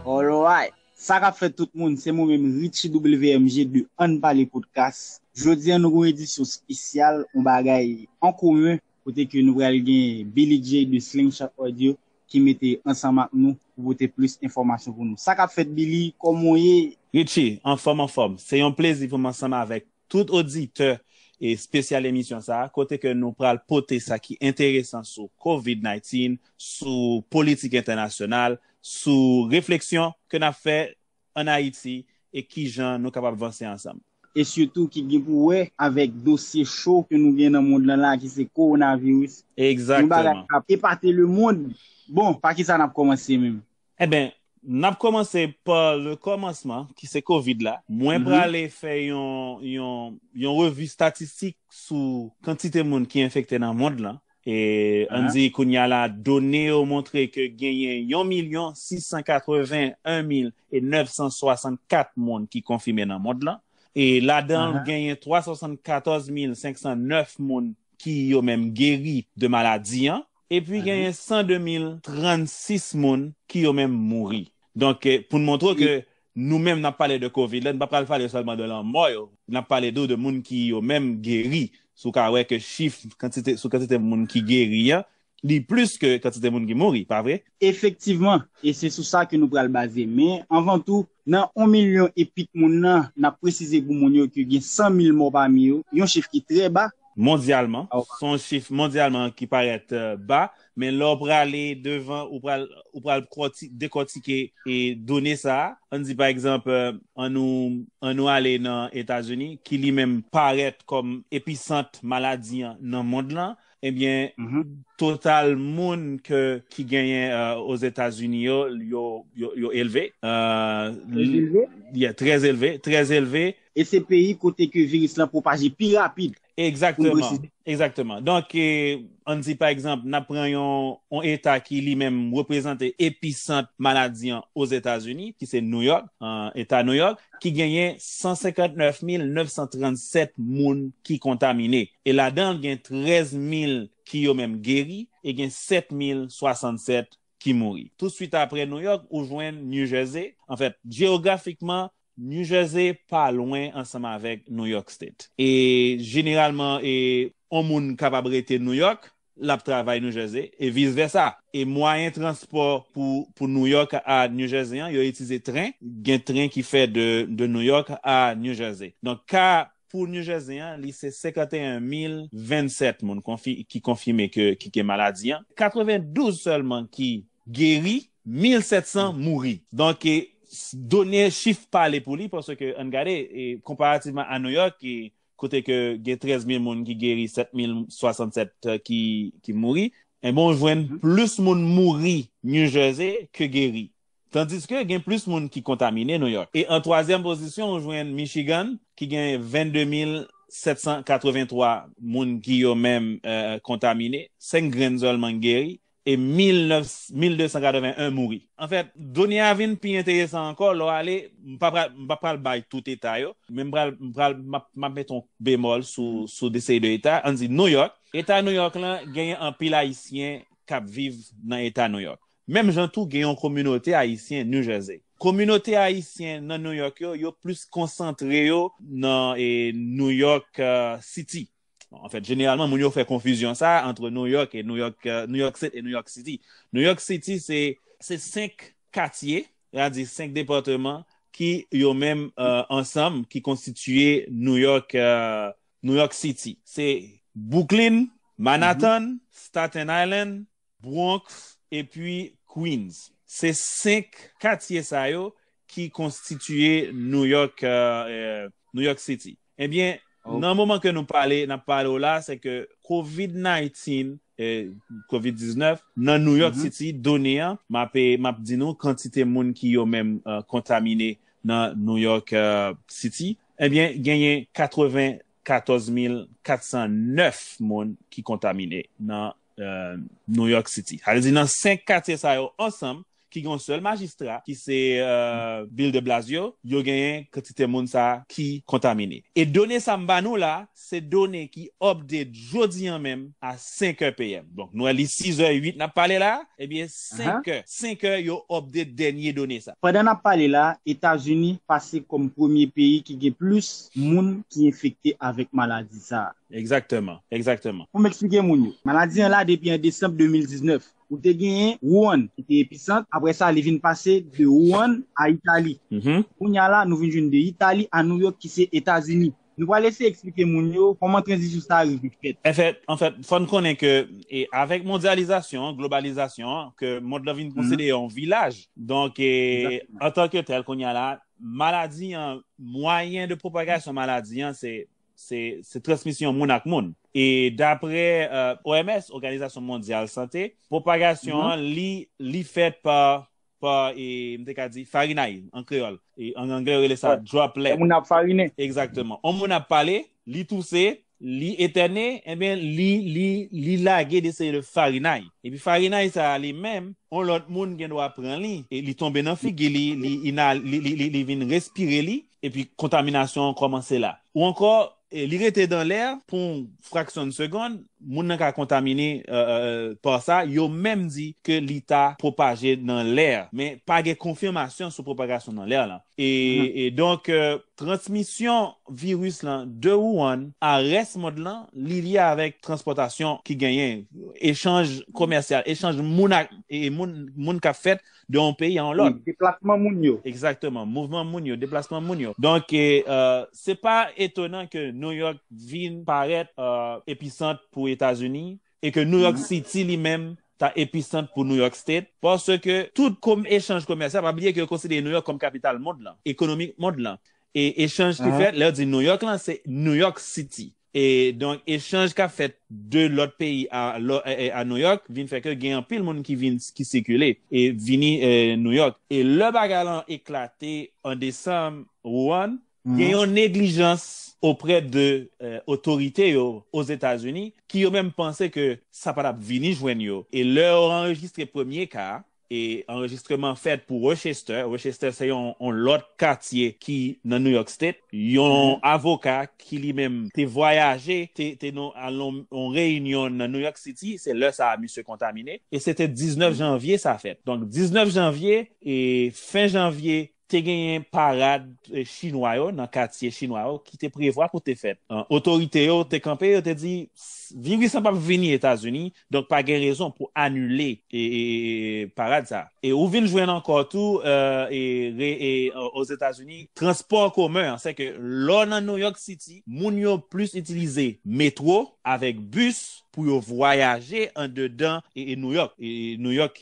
Alright! Sa kap fèt tout moun, se mwen menm Richie WMG de Ann Pale Podcast. Jodi an nou gen yon edisyon spesyal, yon bagay an komen kote ke nou pral gen Billy Jay de Slingshot Audio ki mete ansanm ak nou pou pote plis enfòmasyon pou nou. Sa kap fèt Billy, kòman w ye? Richie, anfòm anfòm! Se yon plezi pou m ansanm avèk Tout oditè espesyal emisyon sa a, kote ke nou pral pote sa ki enteresan sou Covid 19, sou politik entènasyonal, sou refleksyon ke n ap fè an Ayiti e kijan nou kapab vanse ansanm. E sitou ki gen pou wè avèk dosye cho ke nou gen nan mond lan la a ki se Kowonaviris. Yon bagay Exactement. k ap epate lemond. Bon, pa kisa n ap kòmanse menm? Enben, n ap kòmanse pa le kòmansman ki se kovid la. Mwen prale fè yon revi statistik sou kantite moun ki enfekte nan mond lan. E ann di kounya la done yo montre ke genyen yon milyon 681 mil e 964 moun ki konfime nan mond lan. E ladan l genyen 374 mil 509 moun ki yo menm geri de maladi an. Epi genyen 102 mil 36 moun ki yo menm mouri. Donk pou n montre w ke nou menm n ap pale de covid la, n pa pral pale sèlman de lanmò yo, n ap pale tou de moun ki yo menm geri. Si w ka wè ke chif kantite sou kantite moun ki geri an, li plis ke kantite moun ki mouri, pa vre? Efektivman, e se sou sa ke nou pral baze. Men, anvan tou, Nan on milyon e pit moun nan, n ap presize pou moun yo ke gen 100 mil mò pami yo, yon chif ki trè ba. Mondyalman, s on chif mondyalman ki parèt ba, men lè w prale devan ou pral ou pral dekòtike done sa a. An n di pa egzanp, an nou an nou ale nan Etazini ki li menm parèt kòm episant maladi an nan mond lan, Ebyen total moun ke ki genyen Ozetazini yo, yo elve. Trè elve? Yeah, trè elve, trè elve. E se peyi kote ke viris lan pwopaje pi rapid. Egzakteman, egzakteman. Donk, ann di pa egzanp, n ap pran yon eta ki li menm reprezante episant maladi an Ozetazini, ki se New York, eta New York, ki genyen 159937 moun ki kontamine. e ladan l gen 13 mil ki yo menm geri e gen 7 mil 67 ki mouri. Tousuit apre Nouyòk ou jwenn New Jersey, anfèt jeyografikman New Jersey pa lwen ansanm avèk Nouyòk State e jeneralman e on moun kapab rete Nouyòk l ap travay New Jersey e vis vèsa. E mwayen transpò pou pou New York a New Jersey an, yo itize tren, gen tren ki fè de de New York a New Jersey. Donk ka pou New Jersey an li se 51 mil 27 moun konfi ki konfime ke ki gen maladi an, 92 sèlman ki geri, 1700 mouri. Donk done chif pale pou li paske ann gade e konparativman a New York ki kote ke gen 13 mil moun ki geri 7 mil 67 ki mouri, enben ou jwenn plis moun mouri New Jersey ke geri. Tandiske gen plis moun ki kontamine New York. E an twazyèm pozisyon ou jwenn Michigan ki gen 22 mil 783 moun ki yo menm kontamine, 5 grenn sèlman ki geri, E 1981 mouri. Anfèt, done a vin pi enteresan ankò lè w ale, m pa pral, m pa pral bay tout eta yo, men m pral, m pral, m ap, m ap mete yon bemòl sou, sou de seri de eta, ann di Nouyòk. Eta Nouyòk lan genyen anpil Ayisyen k ap viv nan eta Nouyòk. Menm jan tou gen yon kominote Ayisyen New Jersey. Kominote Ayisyen nan Nouyòk yo, yo plis konsantre yo nan e Nouyòk City. En fèt, jeneralman, moun yo fè konfizyon sa antre New York e New York, euh, New York State e New York City. New York City se, se 5 katye, ya di 5 departeman ki yo menm euh, ansanm ki konstitiye New York, euh, New York City. Se Brooklyn, Manhattan, Staten Island, Bronx epi Queens. Se 5 katye sa yo ki konstitiye New York New York City. Ebyen nan moman ke nou pale nap pale w la se ke covid 19 covid 19 nan New York City done an map map di nou kantite moun ki yo menm kontamine nan New York City ebyen genyen 80 14409 moun ki kontamine nan New York City. Sa vle di nan 5 katye sa yo ansanm ki gen yon sèl majistra ki se Bill de Blasio, yo genyen kantite moun sa ki kontamine. E done sa m ba nou la, se done ki update jodi an menm a 5 è PM. Donk nou wè li 6 è 8 nap pale la, ebyen 5 è, 5 è yo update dènye done sa. Pandan nap pale la, Etazini pase kòm premye peyi ki gen plis moun ki enfekte avèk maladi sa a. Egzakteman, egzakteman. Pou m eksplike moun yo. Maladi an la depi an desanm 2019. Ou te genyen Wuhan ki te episant, apre sa li vin pase de Wuhan a Itali. Kounye a la nou vin jwenn de Itali a New York ki se Etazini. Nou pral eseye eksplike moun yo kòman tranzisyon sa a rive fèt. Anfèt, anfèt, fò n konnen ke avèk mondyalizasyon an, globalizasyon an, ke mond lan vin konsidere yon vilaj. Donk, antanke tèl, kounye a la, Maladi an, mwayen de pwopagasyon maladi an se transmisyon moun ak moun. E dapre OMS, Oganizasyon Mondyal Sante, pwopagasyon an li fèt pa, m te ka di, farinay an kreyòl. An anglè yo rele sa droplet. Lè moun nan ap farinen. Egzakteman. On moun ap pale, li touse, Li etène, enben li, li, li lage de seri de farinay. Epi farinay sa a li menm, yon lòt moun gen dwa pran li, e li tonbe nan figi li, li ina, li, li, li, li vin respire li, epi kontaminasyon an kòmanse la. Ou ankò, li rete dan lè pou yon fraksyon de segond, moun nan ka kontamine par sa, yo menm di ke li ta pwopaje nan lè, men pa gen konfimasyon sou pwopagasyon nan lè lan. E donk transmisyon viris lan de Wuhan a rès mond lan, li lye avèk transpòtasyon ki genyen, echanj komèsyal, echanj moun ak moun, moun k ap fèt de yon peyi a yon lòt. Deplasman moun yo. Egzakteman. Mouvman moun yo, deplasman moun yo. Donk, se pa etonan ke New York vin parèt episant pou Etazini, e ke New York City li menm ta episant pou New York State, paske tout kom echanj komèsyal, pa bliye ke yo konsidere New York kom kapital mond lan, ekonomik mond lan, e echanj ki fèt, lè yo di New York lan, se New York City, e donk echanj kap fèt de lòt peyi a a New York vin fè ke gen anpil moun ki vin, ki sikile, e vini New York, e lè bagay lan eklate an desanm Wuhan, Gen yon neglijans oprè de otorite yo Ozetazini ki yo menm panse ke sa pa tap vini jwenn yo e lè yo anrejistre premye ka a e anrejistreman fèt pou Rochester, Rochester se yon lòt katye ki nan New York State, yon avoka ki li menm te vwayaje te nan al nan yon reyinyon nan New York City se lè sa a misye kontamine e se te 19 janvye sa fèt donk 19 janvye e fen janvye Te genyen parad chinwa yo nan katye chinwa yo ki te prevwa pou te fèt. Otorite yo te kanpe, yo te di viris lan pap vini Etazini, donk pa gen rezon pou anile parad sa. E ou vin jwenn ankò tou Ozetazini, transpò an komen an, sèke lè w nan New York City, moun yo plis itilize metwo avèk bis pou yo vwayaje andedan Nouyòk, New York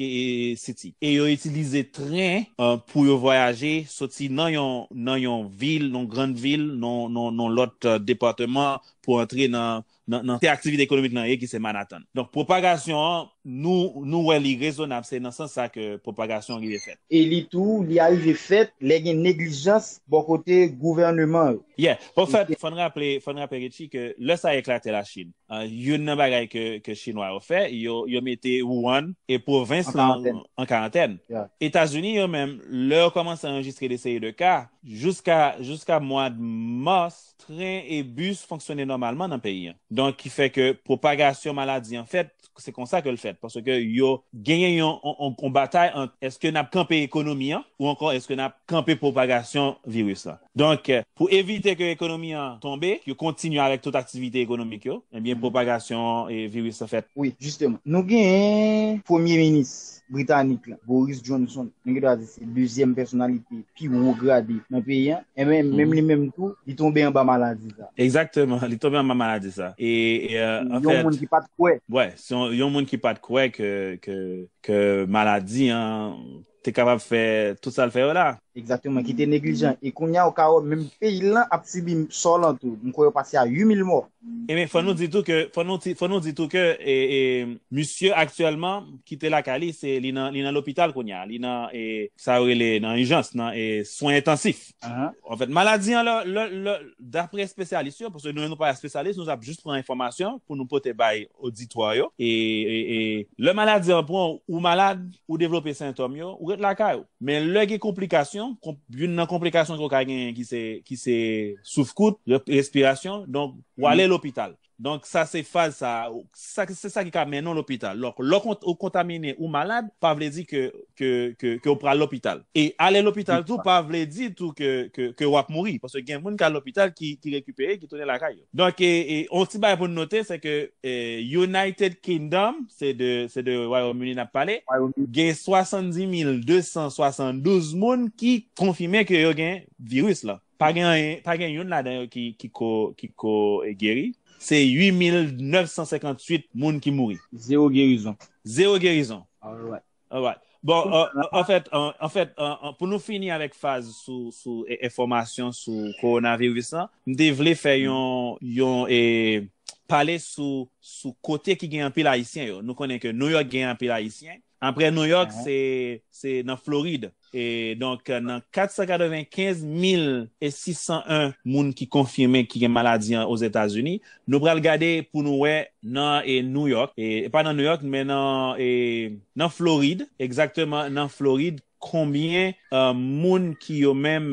City, e yo itilize tren pou yo vwayaje soti nan yon vil, yon grann vil, nan yon lòt depateman pou antre nan kote aktivite ekonomik lan ye ki se Manhattan. Donk pwopagasyon an, nou wè li rezonab, se nan sans sa ke pwopagasyon an rive fèt. E li tou, li arive fèt lè gen neglijans bò kote gouvèneman yo. Yeah. Bon, fò n raple Richie ke lè sa eklate Lachin, Youn nan bagay ke Chinwa yo fè, yo mete Wuhan e pwovens lan an karantèn. Etazini yo menm, lè yo kòmanse anrejistre de seri de ka, jouska mwad mas, tren e bis fonksyone nòmalman nan peyi an. Donk ki fè ke pwopagasyon maladi an fèt, se konsa ke l fèt. Paske yo genyen yon batay ant eske n ap kanpe ekonomi an ou ankò eske n ap kanpe pwopagasyon viris lan. Donk, pou evite ke ekonomi an tonbe, yo kontinye avèk tout aktivite ekonomik yo, ebyen pwopagasyon viris lan fèt. Wi, jisteman. Nou genyen Premye Minis Britanik la, Boris Johnson, nou gen dwa di se dezyèm pèsonalite pi wo grade nan peyi an, enben menm li menm tou, li tonbe anba maladi sa. Egzakteman, li tonbe anba maladi sa. E, an fèt. Yon moun ki pa t kwè. Wi, se yon moun ki pa t kwè ke maladi an Te kapab fè tout sal fè yo la. Exactement ki te neglijan e kounya ou ka wè menm peyil lan ap sibi sò lan tou m kwè yo pase a 8000 mò. Ebyen fò nou di tou ke fò nou fò nou di tou ke misye aktyèlman kite lakay li se li nan li nan lopital kounya li nan sa yo rele nan ijans nan swen entansif. En fèt, maladi an, dapre espesyalis yo, pwosè nou yon nou pa espesyalis, nou ap jist pran enfòmasyon pou nou pote bay oditwa yo. E lè maladi an pran ou, ou malad, ou devlope sentòm yo, ou ret lakay ou. Men lè gen konplikasyon, youn nan konplikasyon ke ou ka genyen ki se souf kout, respirasyon, donk ou ale lopital. Donk sa se faz sa a, se sa ki ka mennen w lopital. Donk lò ou kontamine, ou malad, pa vle di ke ou pral lopital. E ale lopital tou pa vle di tou ke wap mouri. Paske gen moun ki al lopital ki rekipere, ki tounen lakay yo. Donk yon ti bagay pou nou note se ke United Kingdom, se de Wayòm Ini nap pale, gen 70,272 moun ki konfime ke yo gen viris lan. Pa gen anyen, pa gen youn ladan yo ki, ki ko, ki ko geri. Se 8958 moun ki mouri. Zero gerizon. Zero gerizon. Alright. Alright. Bon, an fèt, an fèt, pou nou fini avèk faz sou, sou enfòmasyon sou kowonaviris lan, m te vle fè yon, yon e, pale sou, sou kote ki gen anpil Ayisyen yo. Nou konnen ke Nouyòk gen anpil Ayisyen. Apre New York, se nan Florid. E donk nan 495 mil e 601 moun ki konfime ki gen maladi an Ozetazini, nou pral gade pou nou wè nan New York, e pa nan New York men nan Florid, egzakteman nan Florid, Konbyen moun ki yo menm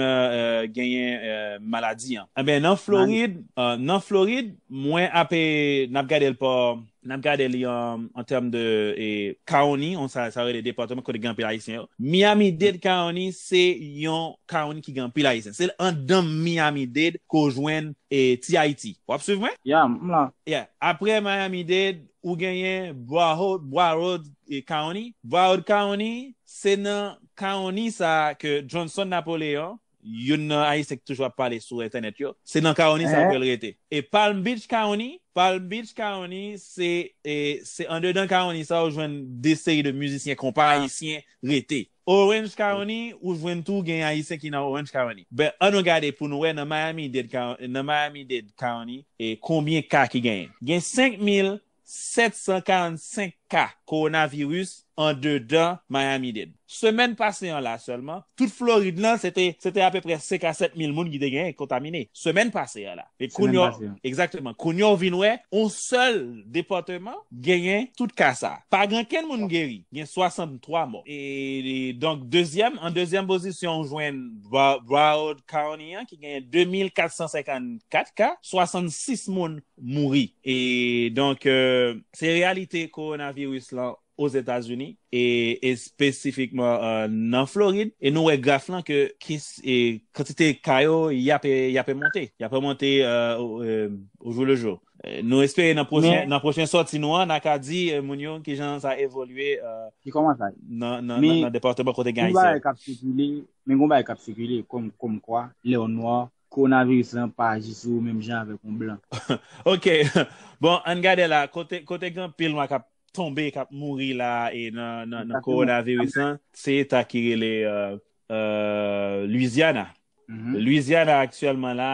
genyen maladi an. Anben nan Florid nan Florid mwen ape nap gadel pa nap gade li an tèm de county sa yo rele departement kote gen anpil ayisyen yo Miami Dade county se yon county ki gen anpil ayisyen se andan Miami Dade ke w jwenn ti Ayiti wap swiv mwen? Yeah m la. Yeah apre Miami Dade ou genyen Broward county Broward county Se nan kawony sa a ke Johnson Napoleon, youn nan Ayisyen ki toujou ap pale sou entènèt yo, se nan kawony sa a ke l rete. E Palm Beach County, Palm Beach County, se se andedan kawony sa a ou jwenn de seri de mizisyen konpa ayisyen rete. Orange County, ou jwenn tou gen Ayisyen ki nan Orange County. Ben, an nou gade pou nou wè nan Miami-Dade County, nan Miami-Dade County, e konbyen ka ki genyen. Gen 5 mil 745 ka kowonaviris andedan Miami-Dade. Semèn pase an la sèlman, tout Florid lan se te se te apeprè 5 a 7 mil moun ki te gen kontamine. Semèn pase an la. E kounye w, egzakteman, kounye w vin wè yon sèl depatman genyen tout ka sa. Pa gen okenn moun geri. Gen 63 mò. E donk dezyèm, an dezyèm pozisyon ou jwenn Broward County an ki genyen 2 mil 454 ka, 66 moun mouri. E donk se reyalite kowonaviris lan Ozetazini e espesifikman nan Florid. E nou wè graf lan ke kantite ka yo y ape monte. Y ape monte o jou le jou. Nou espere nan pwochen sòti nou an, na ka di moun yo ki jan sa evolye nan departeman kote gen Ayisyen. Men gen yon bagay k ap sikile kòmkwa lè w nwa Coronavirus lan pa aji sou ou menm jan avek yon blan. Ok bon ann gade la kote gen pil nwa kap tonbe kap mouri la nan coronavirus lan se eta ki rele Louisiana Louisiana aktyelman la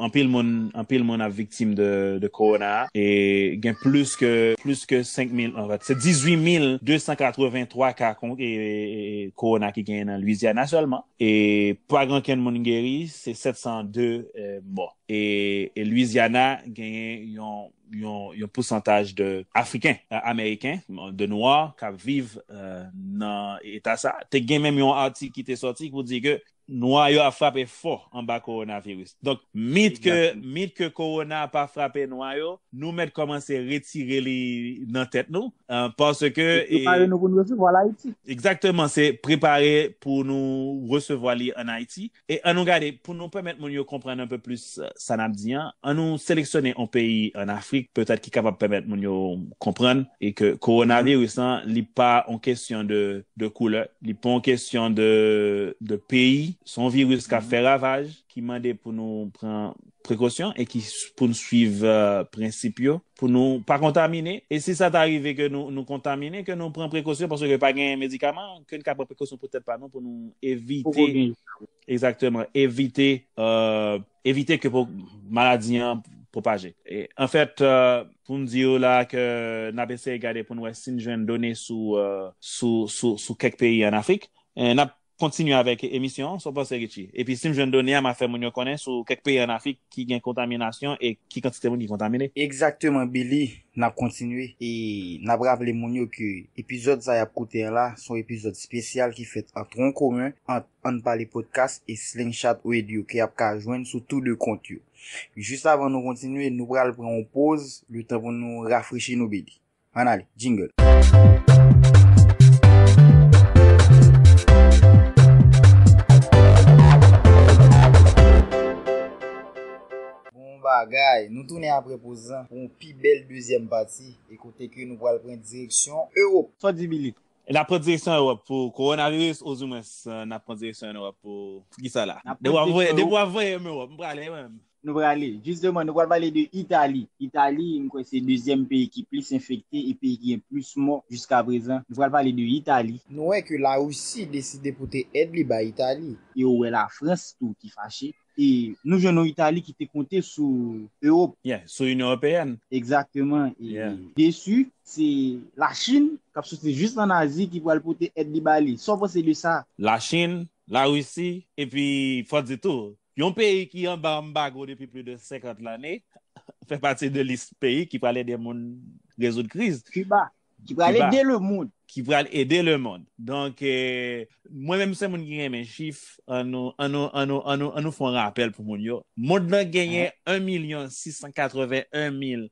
anpil moun anpil moun ap viktim de corona e gen plis ke plis ke 5 mil anfèt se 18 mil 283 ka corona ki genyen nan Louisiana selman E pa gen okenn moun geri, se 702 mò. E Louisiana genyen yon pousantaj de Afriken Ameriken, de Nwa k ap viv nan eta sa. Te gen menm yon atik ki te sòti pou di ke Nwa yo ap frape fò anba kowonaviris. Donk mit ke mit ke korona pa frape nwa yo, nou mèt kòmanse retire li nan tèt nou paske e. Prepare nou pou nou resevwa l Ayiti. Egzakteman, se prepare pou nou resevwa li an Ayiti. E an nou gade, pou nou pèmèt moun yo konprann anpe plis sa n ap di an, an nou seleksyone yon peyi an Afrik petèt ki kapab pèmèt moun yo konprann e ke kowonaviris lan li pa yon kesyon de de koulè, li pa yon kesyon de de peyi, se yon viris k ap fè ravaj. ki mande pou nou pran prekosyon e ki pou nou swiv prensip yo pou nou pa kontamine. E si sa ta rive ke nou kontamine, ke nou pran prekosyon paske pa gen medikaman, ke nou ka pran prekosyon pou tèt pa nou pou nou evite, egzakteman, evite, evite ke maladi an pwopaje. An fèt, pou m di ou la ke n ap eseye gade pou nou wè si nou jwenn done sou kèk peyi an Afrik. N ap Kontinye avèk emisyon an, sa w panse Richie? Epi si m jwenn done a m a fè moun yo konnen sou kèk peyi an Afrik ki gen kontaminasyon e ki kantite moun ki kontamine. Egzakteman Billy, n ap kontinye. E n ap raple moun yo ke epizòd sa y ap koute an la son epizòd spesyal ki fèt an tron komen ant Ann Pale Podcast e Slingshot Radio ke y ap ka jwenn sou tou 2 kont yo. Jis avan nou kontinye, nou pral pran yon poz, letan pou nou rafrechi nou Billy. Ann ale, jingle! Bon bagay! Nou tounen apre poz lan pou yon pi bèl dezyèm pati e kote ke nou pral pran direksyon Ewop. Fò Dibili, N ap pran direksyon Ewop pou Kowonaviris ouzou mwens n ap pran direksyon Ewop pou kisa la? Depi w ap voye m Ewop m prale mwen menm. Nou prale. Jisteman, nou pral pale de Itali. Itali, m kwè se dezyèm peyi ki plis enfekte e peyi ki gen plis mò jiskaprezan. Nou pral pale de Itali. Nou wè ke Larisi deside pote èd li bay Itali. E ou wè Lafrans tou ki fache. E nou jwenn yon Itali ki te konte sou Ewop. Yeah, sou Inyon Ewopeyèn. Egzakteman. E desu, se Lachin, k ap soti jis an Azi, ki pral pote èd li ba li. Sa w panse de sa? Lachin, Larisi, epi fò di tou, Yon peyi ki anba anbago depi pli de 50 lane fè pati de lis peyi ki pral ede moun rezoud kriz. Kiba, ki pral ede lemonn. Ki pral ede lemonn. Donk, mwen menm se moun ki renmen chif, an nou fè yon rapèl pou moun yo. Monn lan genyen 1 milyon 681 mil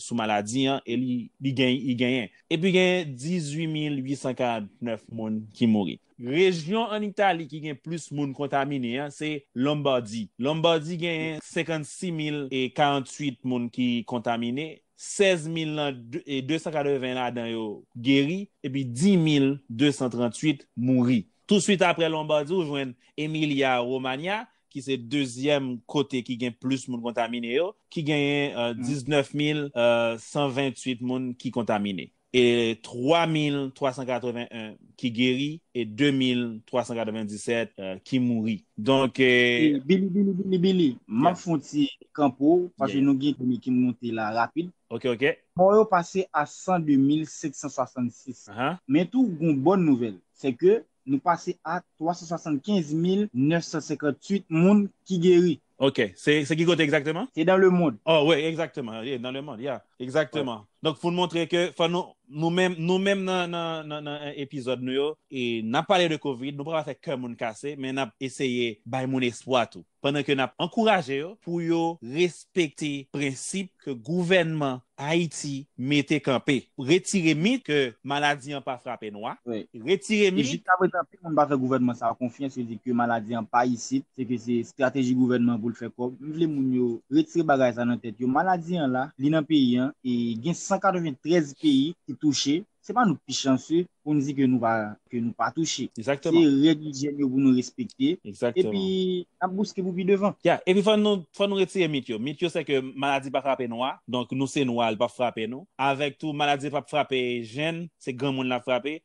sou maladi an e li genyen. Epi gen 18849 moun ki mouri. Rejyon an Itali ki gen plis moun kontamine an se Lombardi. Lombardi genyen 56048 moun ki kontamine, 16280 ladan yo geri epi 10238 mouri. Touswit aprè Lombardi ou jwenn Emilia Romagna ki se dezyèm kote ki gen plis moun kontamine yo, ki genyen 19 mil 128 moun ki kontamine, e 3 mil 381 ki geri, e 2 mil 397 ki mouri. Donk. Bili, Bili, Bili, Bili, m ap fon ti kan pou ou, paske nou gen done ki monte la rapid. Ok, ok. Mò yo pase a 102 mil 566. Men tou, gon bòn nouvèl, se ke Nou pase a 375,958 moun ki geri. Ok, se ki kote egzakteman? Se dan lemond. Oh wi, egzakteman, e dan lemond, ya. Egzakteman. Donk pou n montre ke fò nou, nou menm, nou menm nan epizòd nou yo, e n ap pale de kovid, nou pa pral fè kè moun kase, men n ap eseye bay moun espwa tou. pandan ke nap ankouraje yo pou yo respekte prensip ke gouvènman Ayiti mete kanpe, retire mit ke maladi an pa frape nwa, retire mit. Jiska prezan anpil moun pa fè gouvènman sa a konfyans, yo di ke maladi an pa isit, se ke se estrateji gouvènman pou l fè kòb, m vle moun yo retire bagay sa nan tèt yo, maladi an la, li nan peyi an, e gen 193 peyi ki touche, Se pa nou k pi chanse pou n di ke nou pa ke nou pa touche. Se règ ijyèn yo pou nou respekte epi n ap bouske pou pi devan. Ya, epi fò nou fò nou retire mit yo. Mit yo se ke maladi pa frape nwa, donk nou se nwa li pap frape nou. Avèk tou maladi pap frape jenn, se granmoun l ap frape.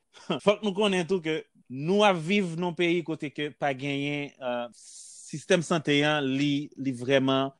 Fòk nou konnen tou ke Nou ap viv nan yon peyi kote ke pa genyen sistèm sante an li vrèman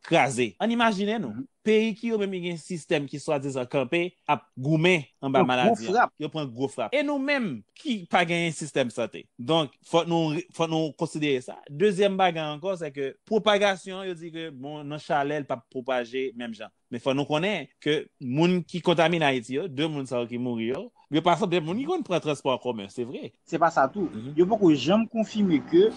kraze. Ann imajine nou, peyi ki yo menm ki gen sistèm ki swadizan kanpe ap goumen anba maladi an. Yo pran gwo frap. E nou menm ki pa genyen sistèm sante. Donk fòk nou konsidere sa. Dezyèm bagay ankò se ke pwopagasyon an yo di ke bon nan chalè li pap pwopaje menm jan. Men fò nou konnen ke moun ki kontamine Ayiti yo, 2 moun sa yo ki mouri yo, yo pa sanble moun ki konn pran transpò an komen, se vre. Se pa sa tou, yo poko janm konfime ke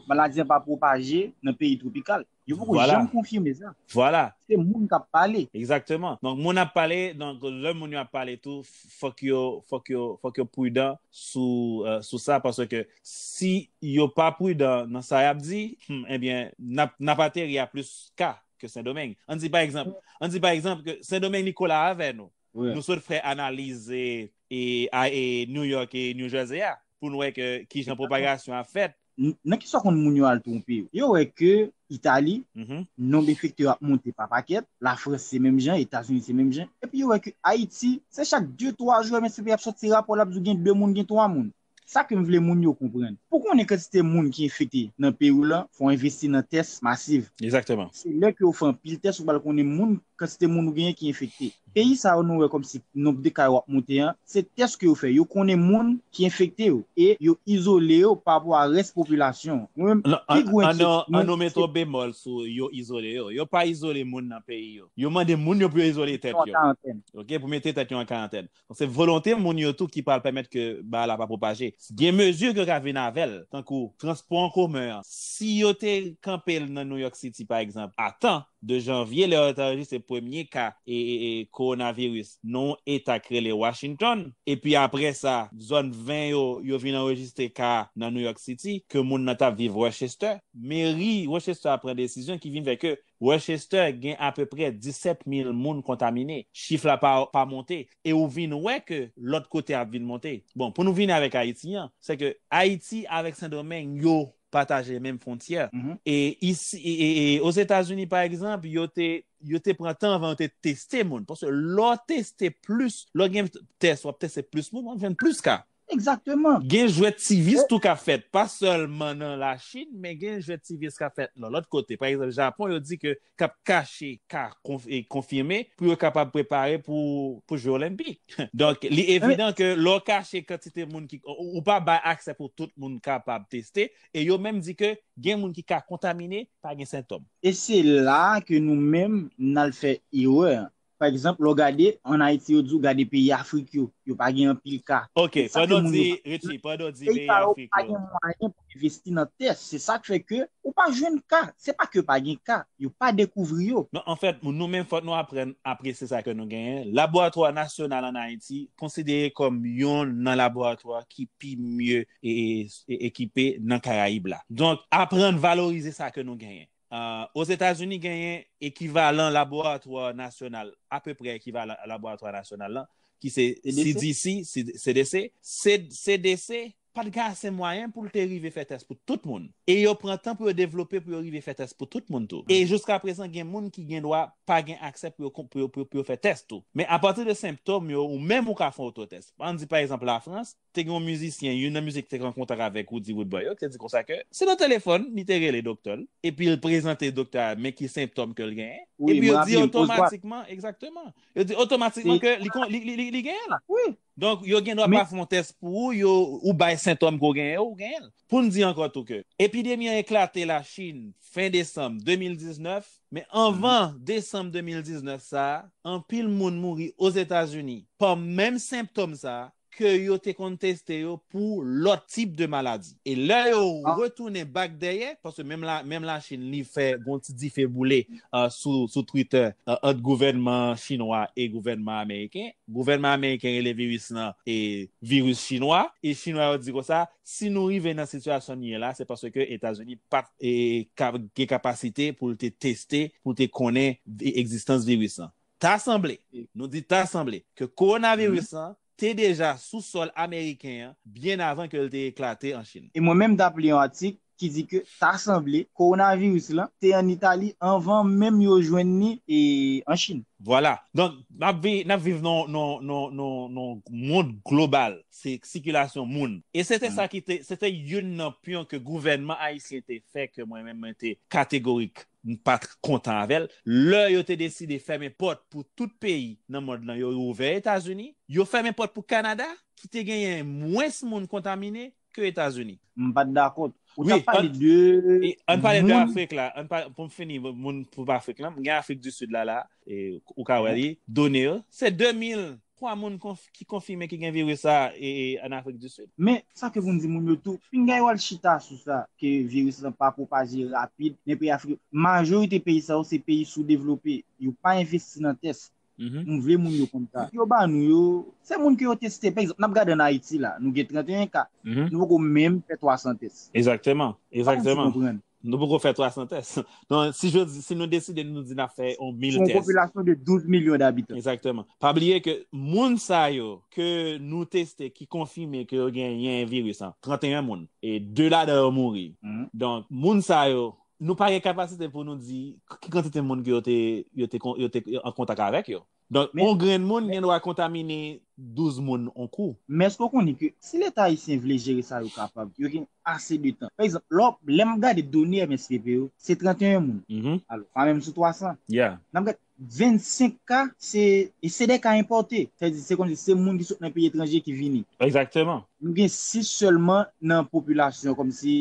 maladi an pa pwopaje nan peyi twopikal. Yo poko janm konfime sa. Vwala. Se moun k ap pale. Egzakteman. Donk moun ap pale, donk lè moun yo ap pale tou, fòk yo, fòk yo, fòk yo prudan sou, sou sa, paske si yo pa prudan nan sa y ap di, hum, ebyen n ap, n ap ateri a plis ka. ke Sendomeng. An di pa egzanp, an di pa egzanp ke Sendomeng li kola avè nou. Nou sot fè analize e a e New York e New Jersey a pou nou wè ke ki jan pwopagasyon a fèt. Nan ki sa konn moun yo al twonpe yo? Yo wè ke Itali, nonb enfekte yo ap monte pa pakèt, la Frans se menm jan, Etazini se menm jan, epi yo wè ke Ayiti, se chak 2, 3 jou MSPP ap soti rapò l ap di w gen 2 moun, gen 3 moun. Sa ke m vle moun yo konprann. Pou konnen kantite moun ki enfekte nan peyi w lan, fò w envesti nan tès masiv. Exactement. Se lè ke w fè anpil tès ou pral konnen moun, kantite moun ou genyen ki enfekte. Peyi sa yo nou wè kòmsi nonb de ka yo ap monte an, se tès ke yo fè. Yo konnen moun ki enfekte yo e yo izole yo pa rapò a rès popilasyon an. Mwen menm, pi gwo enkyetid mwen, se. An nou mete yon bemòl sou yo izole yo. Yo pa izole moun nan peyi yo. Yo mande moun yo pou yo izole tèt yo. Yo mete tèt yo an karantèn. Ok? Pou mete tèt yo an karantèn. Se volonte moun yo tou ki pral pèmèt ke bagay la pa pwopaje. Gen mezi ke yo ka vin avè l, tankou transpò an komen an. Si yo te kanpe l nan New York City, pa egzanp, a tan, de janvye, lè yo te anrejistre premye ka kowonaviris nan yon eta ki rele Washington, epi apre sa, zòn 20 yo, yo vin anrejistre ka nan New York City, ke moun nan t ap viv Rochester, meri Rochester a pran desizyon ki vin fè ke Worcester gen apeprè 17 mil moun kontamine, chif la pa pa monte e ou vin wè ke lòt kote ap vin monte. Bon, pou nou vini avèk Ayiti an, se ke Ayiti avèk Sendomeng yo pataje menm fwontyè e isi e e Ozetazini pa egzanp yo te yo te pran tan avan yo te teste moun paske lè w teste plis, lè w gen tès w ap teste plis moun w ap jwenn plis ka. Exactement. Gen jwèt civis tou kap fèt, pa sèlman nan la Chine, men gen jwèt civis kap fèt nan lòt kote. Pa egzanp Japon yo di ke kap kache ka konfime pou yo kapab prepare pou jwe olenpik. Donk li evidan ke lè w kache kantite moun ki, ou pa bay aksè pou tout moun kapab teste, e yo menm di ke gen moun ki ka kontamine pa gen sentòm. E se la ke nou menm nal fè erè an. Pa egzanp, lè w gade, ann Ayiti yo di w gade peyi Afrik yo, yo pa gen anpil ka. Ok, Se sa ke pandan w moun di, yo pa konprann. Richie, pandan w di Peyi peyi sa yo Afrik pa yo. gen mwayen pou envesti nan tè. Se sa k fè ke ou pa jwenn ka. Se pa ke pa gen ka. Yo pa dekouvri yo. Non, anfèt, nou menm fòk nou aprann apresye sa ke nou genyen. Laboratwa nasyonal ann Ayiti konsidere kòm youn nan laboratwa ki pi mye ekipe nan Karayib la. Donk, aprann valorize sa ke nou genyen. Ozetazini genyen ekivalan laboratwa nasyonal, apeprè ekivalan laboratwa nasyonal lan, ki se CDC, CDC. CDC pa t gen ase mwayen pou l te rive fè tès pou tout moun. E yo pran tan pou yo devlope pou yo rive fè tès pou tout moun tou. E jouskaprezan gen moun ki gendwa pa gen aksè pou yo fè tès tou. Men apati de senptom yo, ou menm ou ka fè ototès. An n di pa egzanp Lafrans, Te gen yon mizisyen, youn nan mizisyen ki te gen kontak avèk Roody Woodboy yo, ki te di konsa ke se nan telefòn li te rele doktè l, epi l prezante doktè a men ki senptòm ke l genyen, epi yo di otomatikman, egzakteman, yo di otomatikman ke li genyen l. Donk, yo gendwa pa fè yon tès pou ou, yo, ou bay sentòm ke w genyen yo, ou genyen l. Pou n di ankò tou ke epidemi an eklate Lachin fen desanm 2019, men anvan desanm 2019 sa a, anpil moun mouri Ozetazini pa menm senptòm sa a, ke yo te konn teste yo pou lòt tip de maladi. E lè yo retounen bak dèyè, paske menm la Chine li fè gon ti dife boule sou Twitter ant gouvènman chinwa e gouvènman ameriken. Gouvènman ameriken rele viris lan viris chinwa. E chinwa yo di konsa, si nou rive nan sitiyasyon nou ye la, se paske Etazini pa t gen kapasite pou l te teste, pou l te konnen egzistans viris lan. Ta sanble, nou di ta sanble, ke kowonaviris lan te deja sou sòl ameriken an byen avan ke l te eklate an Chin. E mwen menm t ap li yon atik ki di ke ta sanble kowonaviris lan te an Itali anvan menm yo jwenn ni an Chin. Vwala. Donk, n ap vi, n ap viv nan yon, nan yon, nan yon, nan yon mond global. Se sikilasyon moun. E se te sa ki te, se te youn nan pyon ke gouvènman ayisyen te fè ke mwen menm mwen te kategorik. m pa t kontan avè l. Lè yo te deside fèmen pòt pou tout peyi nan mond lan, yo ouvè Etazini. Yo fèmen pòt pou Kanada, ki te genyen mwens moun kontamine ke Etazini. M pa t dakò. Ou t ap pale de moun. Pou m fini, moun pou Afrik lan, m gen Afrik di Sid la la, ou ka wè li, done yo, se 2000 3 moun ki konfime ki gen viris sa an Afrik di Sid. Men, sa ke pou n di moun yo tou, pinga yo al chita sou sa ke viris lan pa pwopaje rapid nan peyi Afrik yo. Majorite peyi sa yo se peyi soudevlope, yo pa envesti nan tès. M vle moun yo konn sa. Yo ba nou yo, se moun ke yo teste. Pa egzanp, n ap gade an Ayiti la, nou gen 31 ka, nou poko menm fè 300 tès. Ekzakteman, ekzakteman. Sa m vle di konprann. Nou poko fè 300 tès. Non, si je di, si nou deside nou di na fè on 1000 tès. Son popilasyon de 12 milyon d'abitan. Exactement. Pa bliye ke moun sa yo ke nou teste ki konfime ke yo gen yen virus an, 31 moun. E 2 la dan yo mouri. Donk, moun sa yo, nou pa gen kapasite pou nou di ki kantite moun ke yo te an kontak avèk yo. Donk, yon grenn moun gen dwa kontamine 12 moun yon kou. Men èske w konnen ke si leta ayisyen vle jere sa yo kapab, yo gen ase de tan. Pa egzanp, lè w, lè m gade done MSPP yo, se 31 moun. Alò, pa menm sou 300. N ap gad, 25 ka se, e se de ka enpòte. Sa vle di, se kòmsi se moun ki sot nan peyi etranje ki vini. Egzakteman. Nou gen 6 sèlman nan popilasyon kòmsi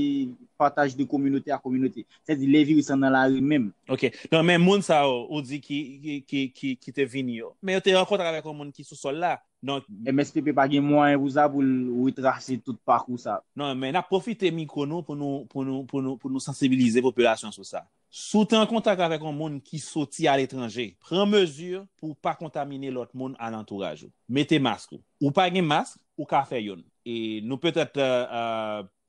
pataj de kominote a kominote. Se di le viris lan nan lari menm. Ok. Non men moun sa yo ou di ki te vini yo. Men yo te rankontre avèk yon moun ki sou sòl la. Donk. MSPP pa gen mwayen pou sa pou l retrase tout pakou sa. Non men nap pwofite mikwo nou pou nou sansibilize popilasyon sou sa. Si w te an kontak avèk yon moun ki soti aletranje, pran mezi pou w pa kontamine lòt moun alantouraj ou. Mete mask ou. Ou pa gen mask, ou ka fè youn. E nou petèt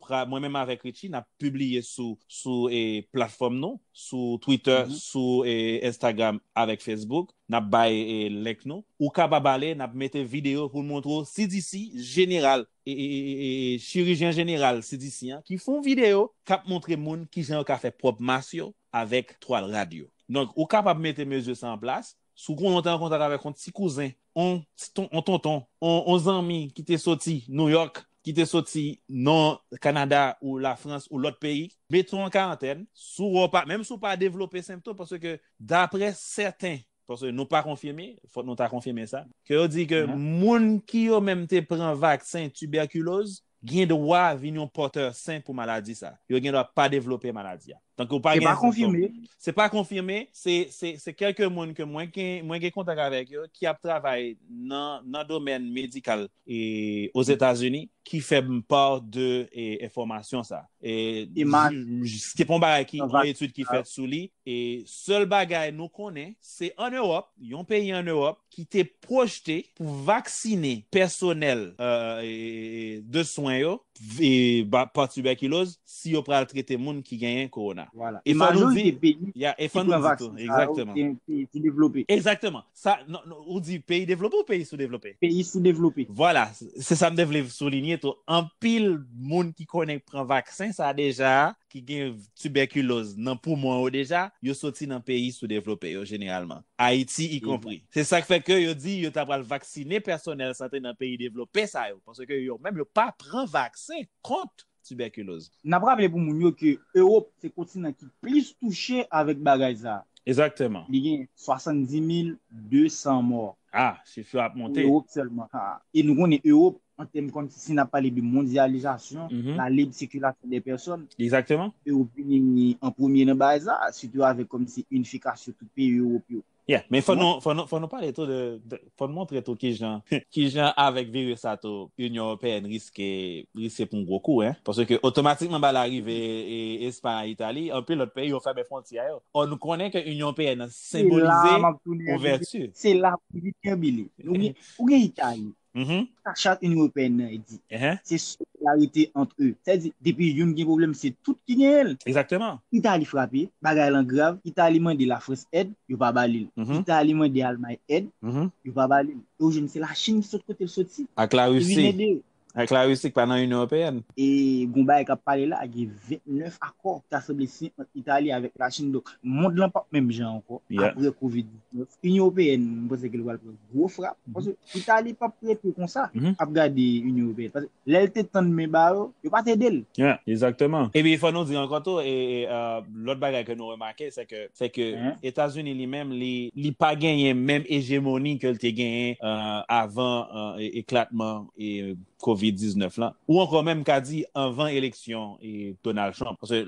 pral mwen menm avèk Richie nap pibliye sou sou e platfòm nou sou twitter sou e instagram avèk facebook nap bay e link nou ou kapab ale nap mete video poun montre w CDC jeneral e e e e chirijyen jeneral CDC an ki fon video kap montre moun kijan yo ka fè pwòp mas yo avèk twal rad yo donk ou kapab mete mezi sa an plas Si w konnen w te an kontak avèk yon ti kouzen, yon tonton, yon zanmi ki te soti Nouyòk, ki te soti nan Kanada ou Lafrans ou lòt peyi, mete w an karantèn, menm si w pa devlope senptom, paske daprè sèten, paske nou pa konfime, fòk nou ta konfime sa, ke yo di ke moun ki yo menm te pran vaksen tibèkiloz, gen dwa vin yon pòtè sen pou maladi sa. Yo gen dwa pa devlope maladi a. Tank ou pa gen sentom. Se pa konfime. Se kèlke moun ke mwen gen kontak avèk yo ki ap travay nan domèn medikal Ozetazini ki fè m part de enfòmasyon sa. Se pa yon bagay ki yon etid ki fèt sou li. Sèl bagay nou konnen se an Ewòp, yon peyi an Ewòp, ki te pwojte pou vaksinen pèsonèl de swen yo pa tibèkiloz si yo pral trete moun ki genyen kowona. E majorite peyi ki pran vaksen sa yo se peyi soudevlope. Egzakteman. Ou di peyi devlope ou peyi soudevlope? Peyi soudevlope. Vwala, se sa m te vle soulinye tou. Anpil moun ki konnen pran vaksen sa deja ki gen tibèkiloz nan poumon yo deja, yo soti nan peyi soudevlope yo jeneralman, Ayiti ikonpri. Se sa k fè ke yo di yo ta pral vaksinen pèsonèl sante nan peyi devlope sa yo, paske yo menm yo pa pran vaksen kont tibèkiloz. N ap raple pou moun yo ke Ewop se kontinan ki plis touche avèk bagay sa a. Ezakteman. Li gen 70 mil 200 mò. Ah! Chif yo ap monte. Pou Ewop sèlman. E nou konnen Ewop an tèm kon si n ap pale de mondyalizasyon, la lib sikilasyon de pèsòn, Ewopini an premye nan bagay sa, sitou avèk kòm si inifikasyon tout peyi Ewop yo. Yeah, men fò nou pale tou de, fò nou montre tou ki jan, ki jan avèk viris sa tou, Inyon Ewopeyèn riske, riske pran gwo kou hein, paske otomatikman ba larive Espay, Itali, anpil lòt peyi yo fèmen fwontyè yo. Ò nou konnen ke Inyon Ewopeyèn nan senbolize ouvèti. Se la pou li kenbe li. Ou gen Itali, Sa chat Inyon Ewopeyèn nan di, se solidarite ant eu. Sa di, depi youn gen pwoblèm, se tout ki genyen l. Egzakteman. Itali frape, bagay lan grav, Itali mande Lafrans èd, yo pa ba li l. Itali mande Almay èd, yo pa ba li l. E ou jwenn se Lachin ki sot kote l soti, ki vin ede yo. Ak Larisi ki pa nan Inyon Ewopeyèn. E gon bagay k ap pale la, gen 29 akò ki ta sanble siyen ant Itali avèk Lachin. Donk, mond lan p ap menm jan ankò, apre covid 19. Inyon Ewopeyèn, m panse ke li pral pran. gwo frap, paske Itali pap rete konsa ap gade Inyon Ewopeyèn, paske lè l te tann men ba yo, yo pa t ede l. Ya, ezakteman. Epi fò nou di ankò tou, lòt bagay ke nou remake, se ke Etazini li menm, li pa genyen menm ejemoni ke l te genyen avan eklatman Covid 19 lan, ou ankò menm ka di anvan eleksyon Donald Trump, paske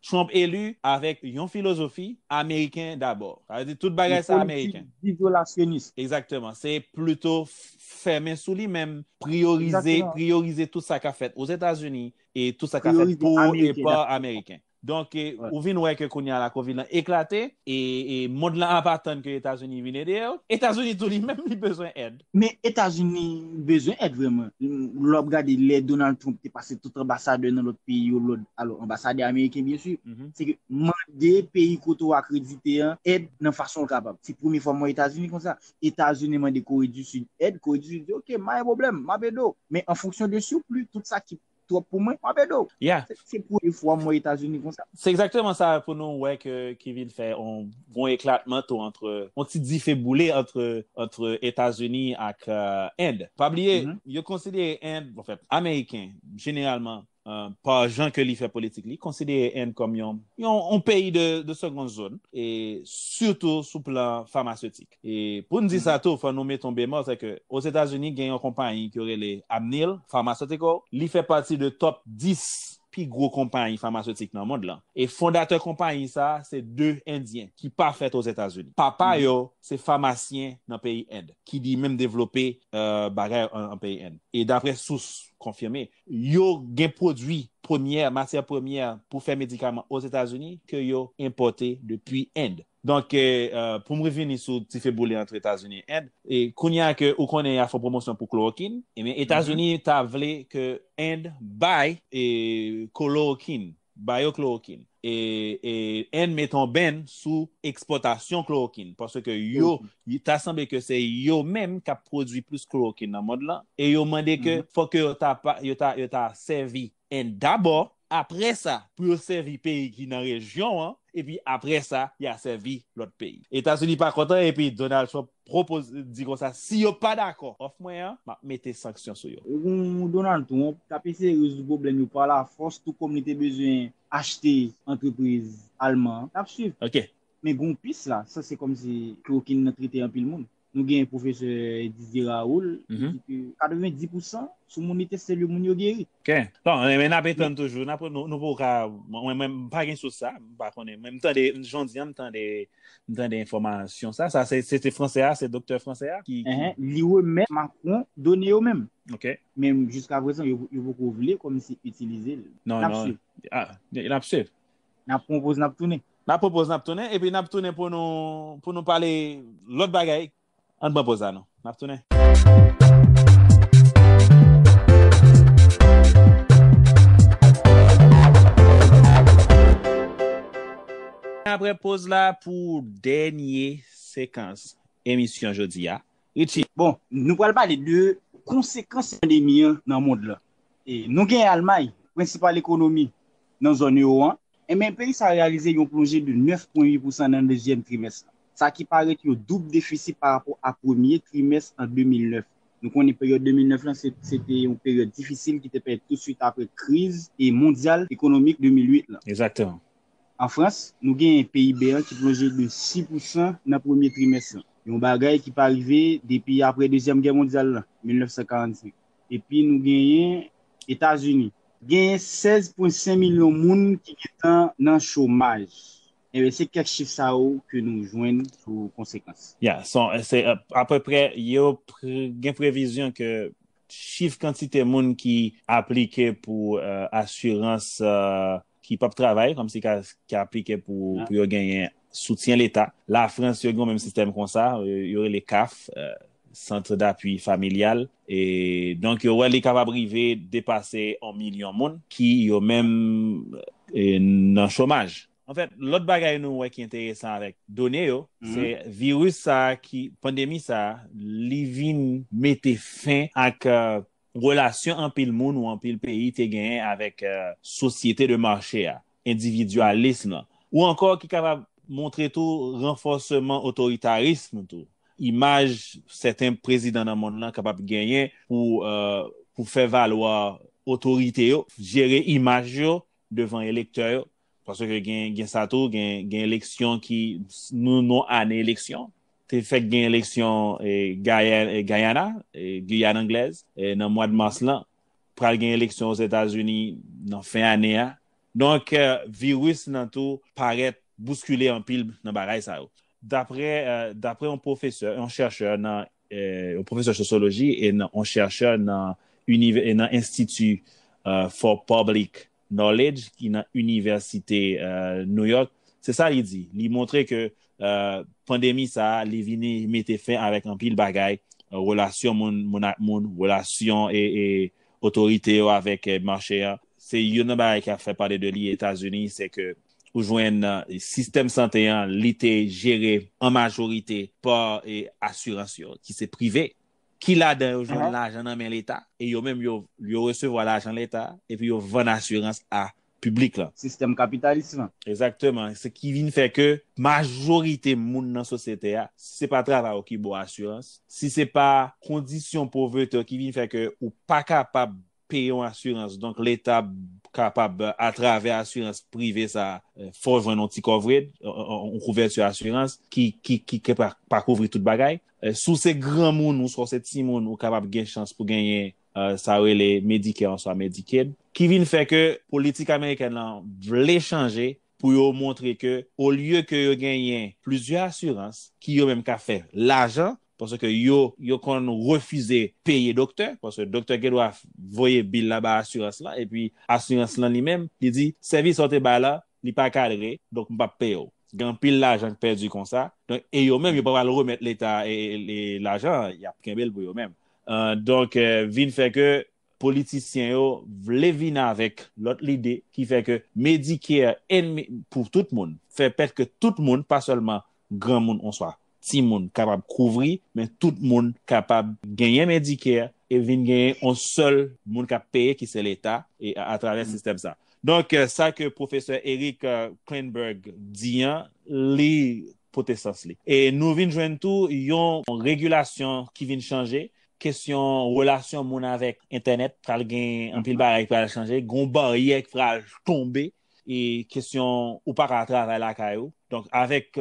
Trump eli avèk yon filozofi Ameriken dabò, sa vle di tout bagay sa Ameriken. Yon politik izolasyonis. Egzakteman, se plito fèmen sou li menm, priyorize tout sa ka fèt Ozetazini e tout sa ka fèt pou e pa Ameriken. Donk ou vin wè ke kounye a la Covid lan eklate e mond lan ap atann ke Etazini vin ede yo. Etazini tou li menm li bezwen èd. Men Etazini bezwen èd vrèman. Lè w ap gade lè Donald Trump te pase tout anbasadè nan lòt peyi yo lòd, alò anbasadè ameriken byen si, se ke mande peyi kote w akredite an èd nan fason l kapab. Se premye fwa m wè Etazini konsa. Etazini mande Kore di Sid èd, Kore di Sid di ok, ma gen pwoblèm, m ap ede w. Men an fonksyon de surplus, tout sa ki twòp pou mwen, wap ede w. Yeah. Se premye fwa m wè Etazini konsa. Se egzakteman sa pou nou wè ke ki vin fè on bon eklatman tou antre, on ti dife boule antre antre Etazini ak End. Pa bliye, yo konsidere End, anfen, Ameriken jeneralman, pa jan ke li fè politik li, konsidere End kòm yon yon on peyi de de seconde zone e sitou sou plan famasetik. E pou n di sa tou, fò nou met yon bemòl, sè ke Ozetazini gen yon konpayi ke yo rele Amneal Pharmaceutical, li fè pati de top 10 pi gwo konpayi famaseutik nan mond lan. E fondatè konpayi sa a se 2 endyen ki pa fèt Ozetazini. Papa yo se famasyen nan peyi End, ki li menm devlope bagay an peyi End. E daprè sous konfime, yo gen pwodui premyè, matyè premyè pou fè medikaman Ozetazini ke yo enpòte depi End. Donk pou m revini sou ti fe boule antre Etazini e End, kounya ke ou konnen y a fon pwomosyon pou klorokin, ebyen Etazini ta vle ke End bay kolorokin, ba yo klorokin. E End mete yon bèn sou ekspòtasyon klorokin, paske yo, ta sanble ke se yo menm k ap pwodui plis klorokin nan mond lan, e yo mande ke fòk ke yo ta sèvi 1 dabò, apre sa pou yo sèvi peyi ki nan rejyon an, epi apre sa ya sèvi lòt peyi. Etazini pa kontan epi Donald Trump pwopoz di konsa si yo pa dakò òf mwen an, map mete sanksyon sou yo. Ou Donald Trump kap eseye rezoud pwoblèm yo pa la fòs tou kòm li te bezwen achte antrepriz alman an. Nap swiv. Ok. Men gen yon pis la, sa se kòmsi klorokin nan trete anpil moun. Nou genyen pwofesè Didier Raoul ki di ke 90 pou san sou moun li teste yo moun yo geri. Ok. Bon, men n ap etann toujou. Nou poko ka, mwen menm m pa gen sous sa, m pa konnen. Men m tande, jodi an m tande, m tande enfòmasyon sa. Sa se se fransè a, se doktè fransè a ki. Li remèt Macron done yo menm. Ok. Men jiskaprezan yo poko vle kòmsi itilize l. Non, non. N ap swiv. N ap swiv. N ap pwopoz n ap tounen. N ap pwopoz n ap tounen epi n ap tounen pou nou pou nou pale lòt bagay ann pran poz la nou n ap tounen. Apre poz la pou dènye sekans emisyon jodi a Richie. Bon nou pral pale de konsekans pandemi an nan mond lan. Nou gen Almay prensipal ekonomi nan zòn ewo an, enben peyi sa reyalize yon plonje de 9 pwen 8 pousan nan dezyèm trimès lan, sa ki parèt yon doub defisi pa rapò a premye trimès an 2009. Nou konnen peryòd 2009 lan se te yon peryòd difisil ki te parèt tout swit aprè kriz mondyal ekonomik 2008 lan. Exactement. An Frans, nou genyen PIB an ki plonje de 6 pousan nan premye trimès lan, yon bagay ki pa rive depi aprè dezyèm gè mondyal lan, 1945. epi nou genyen Etazini. Genyen 16 pwen 5 milyon moun ki gentan nan chomaj. Enben se kèk chif sa yo ke nou jwenn sou konsekans. Ya, son se apeprè yo gen previzyon ke chif kantite moun ki aplike pou asirans ki pap travay kòmsi ki aplike pou yo genyen soutyen leta. Lafrans yo gen yon menm sistèm konsa, yo rele caf, Centre d'appui familial, e donk yo wè li kapab rive depase yon milyon moun ki yo menm nan chomaj. Anfèt, lòt bagay nou wè ki enteresan avèk done yo, se viris sa a ki, pandemi sa a, li vin mete fen ak Relasyon anpil moun ou anpil peyi te genyen avèk sosyete de mache a, endividyalism lan, ou ankò ki kapab montre tou ranfòseman otoritarism tou imaj sèten prezidan nan monn lan kapab genyen pou fè valwa otorite yo, jere imaj yo devan elektè yo, Paske gen sa tou, gen eleksyon ki, nou nou ane eleksyon, te fèk gen eleksyon Guyana, Guyane Anglèz, nan mwad mas lan. Pral gen eleksyon Ozetazini nan fen ane a. Donk, viris lan tou parèt bouskile anpil nan bagay sa yo. Dapre yon pwofesè, yon chèchè nan yon pwofesè sosyoloji e yon chèchè nan Enstiti for Public Knowledge ki nan Inivèsite New York, se sa li di, li montre ke pandemi sa a, li vini mete fen avèk anpil bagay, relasyon moun ak moun, relasyon otorite yo avèk mache a. Se youn nan bagay ki ap fè pale de li Etazini, se ke ou jwenn sistèm sante an li te jere an majorite pa asirans yo ki se prive, ki ladan yo jwenn lajan nan men leta, e yo menm yo resevwa lajan leta epi yo vann asirans a piblik lan. Sistèm kapitalis lan. Egzakteman, se ki vin fè ke majorite moun nan sosyete a, si se pa travay ou ki ba w asirans, si se pa kondisyon povrete w ki vin fè ke ou pa kapab peye yon asirans donk leta kapab atravè asirans prive sa fè w jwenn yon ti kòvred yon kouvèti asirans ki pa kouvri tout bagay si w se granmoun oswa w se timoun ou kapab gen chans pou genyen sa yo rele medicare oswa medicaid ki vin fè ke politik amerikèn lan vle chanje pou yo montre ke olye ke yo genyen plizyè asirans ki yo menm ka fè lajan Paske yo, yo konn refize peye doktè, paske doktè gen dwa voye bil la ba asirans lan, epi asirans lan li menm, li di, sèvis sa w te bay la, li pa kadre, donk m p ap peye w. Gen anpil lajan k pèdi konsa. Donk, e yo menm, yo pa pral remèt leta lajan an, y ap kenbe l pou yo menm. Donk, vin fè ke Politisyen yo vle vin avèk lòt lide ki fè ke Medicare enmi pou tout moun, fè pèt ke tout moun, pa sèlman granmoun oswa timoun kapab kouvri, men tout moun kapab genyen Medicare e vin genyen yon sèl moun k ap peye ki se Leta e atravè sistèm sa. Donk sa ke pwofesè Eric Klinenberg di an, li pote sans li. E nou vin jwenn tou yon regilasyon ki vin chanje kesyon relasyon moun avèk entènèt pral gen anpil bagay ki pral chanje, gon baryè ki pral tonbe e kesyon ou pa ka travay lakay ou. Donk avèk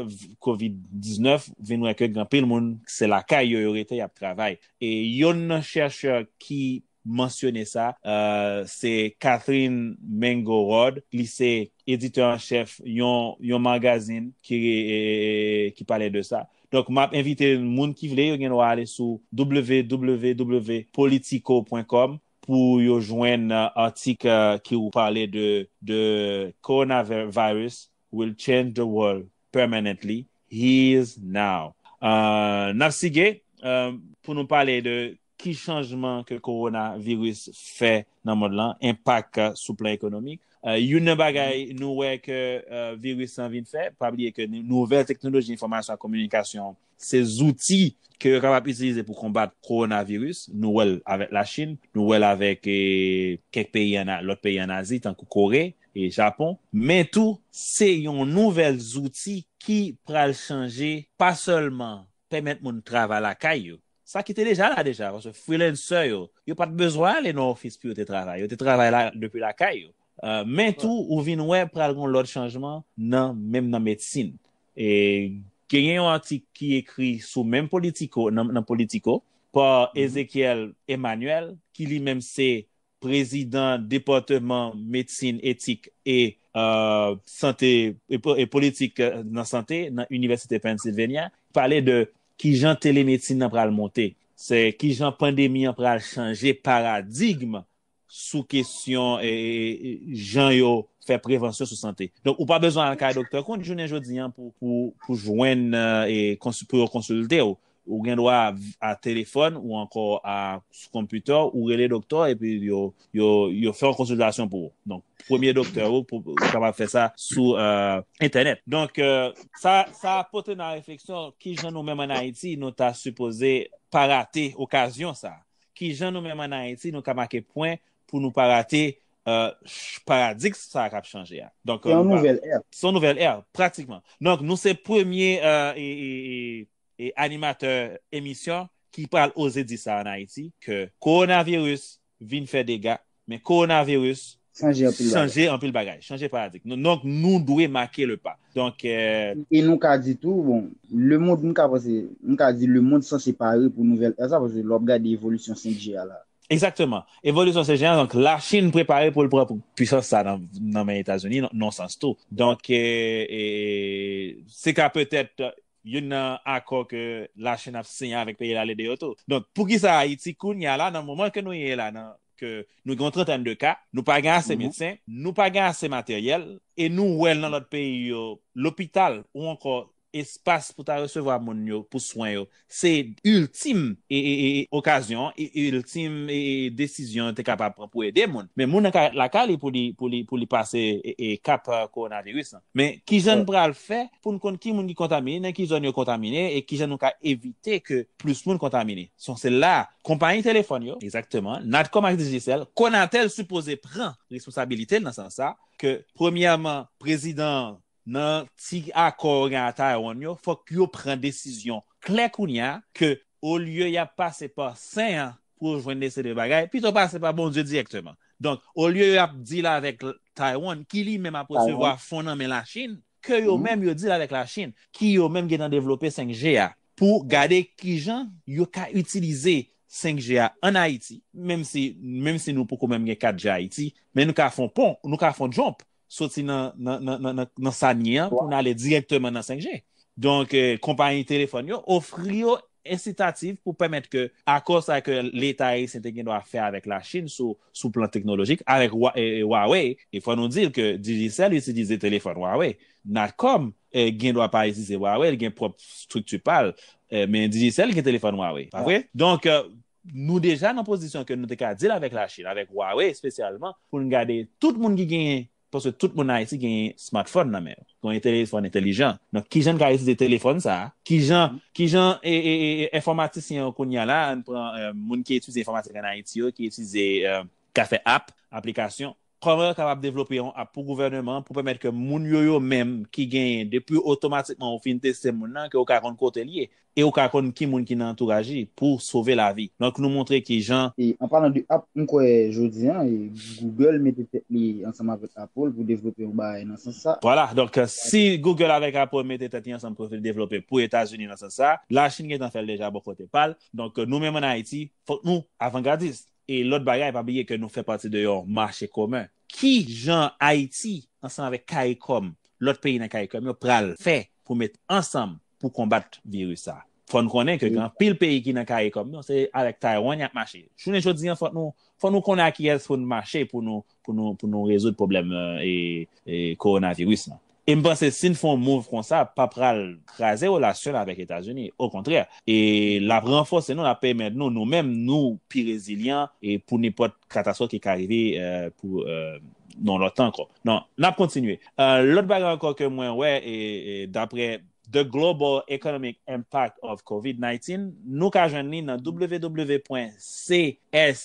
covid 19 vin wè ke gen anpil moun se lakay yo yo rete y ap travay. E yonn nan chèchè ki mansyone sa se Katherine Mango-Rod, li se editè an chèf yon magazin ki pale de sa. Donk map envite moun ki vle yo gen dwa ale sou www.politico.com pou yo jwenn atik ki ou pale de Coronavirus will change the world permanently here's now. Nap sige pou nou pale de Ki chanjman ke kowona viris fè nan mond lan, enpak sou plan ekonomik. Youn nan bagay nou wè ke viris lan vin fè, pa bliye ke nouvèl teknoloji enfòmasyon ak kominikasyon se zouti ke yo kapab itilize pou konbat kowona viris. Nou wè l avèk Lachin, nou wè l avèk kèk peyi an, lòt peyi an Azi tankou Kore e Japon. Men tou se yon nouvèl zouti ki pral chanje pa sèlman pèmèt moun travay lakay yo, sa ki te deja la deja, paske freelancer yo, yo pa t bezwen ale nan ofis pou yo te travay, yo te travay depi lakay yo. Men tou, ou vin wè pral gen yon lòt chanjman nan menm nan medsin. Genyen yon atik ki ekri sou menm politico, nan politico, pa Ezechiel Emmanuel, ki li menm se Prezidan Depatman Medsin Etik e Sante e Politik nan Sante nan Inivèsite Pennsylvania pale de kijan telemedsin nan pral monte, se kijan pandemi an pral chanje paradigm sou kesyon jan yo fè prevansyon sou sante. Donk ou pa bezwen al kay doktè kont jounen jodi an pou jwenn pou yo konsilte w. Ou gen dwa a telefòn ou ankò a sou konpitè w, ou rele doktè w epi yo fè yon konsiltasyon pou ou. Donk, premye doktè ou, ou kapab fè sa sou entènèt. Donk, sa pote nan refleksyon ki jan nou menm an Ayiti nou ta sipoze pa rate okazyon sa. Ki jan nou menm an Ayiti nou ka make pwen pou nou pa rate paradigs sa k ap chanje a. Se yon nouvèl è. Se yon nouvèl è, pratikman. Donk, nou se premye e animatè emisyon ki pral oze di sa an Ayiti ke kowonaviris vin fè dega, men kowonaviris chanje anpil bagay, chanje paradig. Donk nou dwe make le pa. E nou ka di tou, bon, le mond nou ka panse, nou ka di le mond sanse pare pou nouvèl è sa, paske lè w ap gade evolisyon 5G a la. Egzakteman. Evolisyon 5G a, donk la Chinn prepare pou l pran pwisans sa nan men Etazini nan yon sans tou. Donk se ka petèt Youn nan akò ke La Chine ap siyen avèk peyi la lede yo tou. Donk pou kisa Ayiti kounye a la nan moman ke nou ye la nan ke nou gen yon trantèn de ka, nou pa gen ase medsen, nou pa gen ase materyèl e nou wè nan lòt peyi yo lopital ou ankò espas pou ta resevwa moun yo pou swen yo se iltim okazyon, iltim desizyon yo te kapab pran pou ede moun. Men moun nan ka ret lakay li pou li pase kap kowonaviris la. Men, ki jan n pral fè pou n konn ki moun ki kontamine, nan ki zòn yo kontamine e ki jan nou ka evite ke plis moun kontamine? Son se la a, konpayi telefòn yo, egzakteman, Natcom ak Digicel, Conatel sipoze pran responsabilite l nan sans sa a, ke premyèman, prezidan an, nan ti akò yo gen a Taywonn yo, fòk yo pran desizyon klè kounye a, ke olye y ap pase pa sen an pou yo jwenn lese de bagay, pito pase pa Bondye dirèkteman. Donk, olye yo ap deal avèk Taiwan, ki li menm ap resevwa fon nan men Lachin, ke yo menm yo deal avèk Lachin, ki yo menm gentan devlope 5G a, pou gade ki jan yo ka itilize 5G a an Ayiti, menm si nou poko menm gen 4G Ayiti, men nou ka fon pon, nou ka fon jump, soti nan sa n ye an pou n ale direkteman nan 5G. Donk, konpayi telefòn yo ofri yo ensitativ pou pèmèt ke akò sa ke leta ayisyen te gen dwa fè avèk Lachin sou plan teknolojik avèk Huawei, e fò nou di l ke Digicel itilize telefòn Huawei. Natcom gen dwa pa itilize Huawei, li gen pwòp estrikti pa l, men Digicel gen telefòn Huawei, pa vre? Donk, Nou deja nan pozisyon ke nou te ka deal avèk la Chine, avèk Huawei espesyalman, pou nou gade tout moun ki genyen, paske tout moun nan Ayiti genyen smartphone nan men yo, genyen telefòn entelijan. Donk ki jan n ka itilize telefòn sa a, ki jan, ki jan enfòmatisyen yo kounye a la, an n pran moun ki etidye enfòmatik an Ayiti yo, ki itilize, ka fè app, aplikasyon, Kòman yo kapab devlope yon app pou gouvèneman an pou pèmèt ke moun yo yo menm ki genyen depi otomatikman ou fin teste moun nan ke ou ka konn kote li ye e ou ka konn ki moun ki nan antouraj li pou sove lavi. Donk nou montre ki jan. E an palan de app, m kwè jodi an Google mete tèt li ansanm avèk Apple pou devlope yon bagay nan sans sa. Vwala, donk si Google avèk Apple mete tèt li ansanm pou vin devlope pou Etazini nan sans sa, Lachin gentan fè l deja bò kote pa l, donk nou menm an Ayiti fòk nou avangadist. E lòt bagay, pa bliye ke nou fè pati de yon mache komen. Ki jan Ayiti, ansanm avèk Caricom, lòt peyi nan Caricom yo, pral fè pou met ansanm pou konbat viris sa? Fò n konnen ke gen anpil peyi ki nan Caricom yo, se avèk Taiwan y ap mache. Jounen jodi an, fò nou konnen ak kiyès pou n mache pou nou pou nou rezoud pwoblèm kowonaviris lan. E m panse si n fè yon move konsa, pa pral kraze relasyon l avèk Etazini. Okontrè, l ap ranfòse nou, l ap pèmèt nou, nou menm, nou pi rezilyan pou nenpòt katastwòf ki ka rive pou yon lòt tan ankò. Donk, n ap kontinye. Lòt bagay ankò ke mwen wè, dapre The Global Economic Impact of COVID-19, nou ka jwenn li nan www pwen csis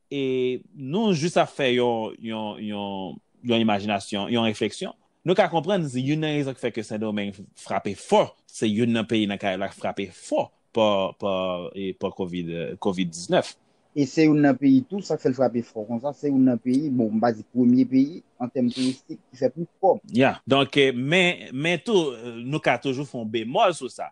E nou jis ap fè yon imajinasyon, yon refleksyon. Nou ka konprann youn nan rezon ki fè ke Sendomeng frape fò, se youn nan peyi nan Karayib la ki frape fò pa covid 19. E se youn nan peyi tou, sa k fè l frape fò konsa, se youn nan peyi, bon, m pa di premye peyi, an tèm touristik, ki fè plis kòb. Ya, donk, men tou, nou ka toujou fè yon bemòl sou sa.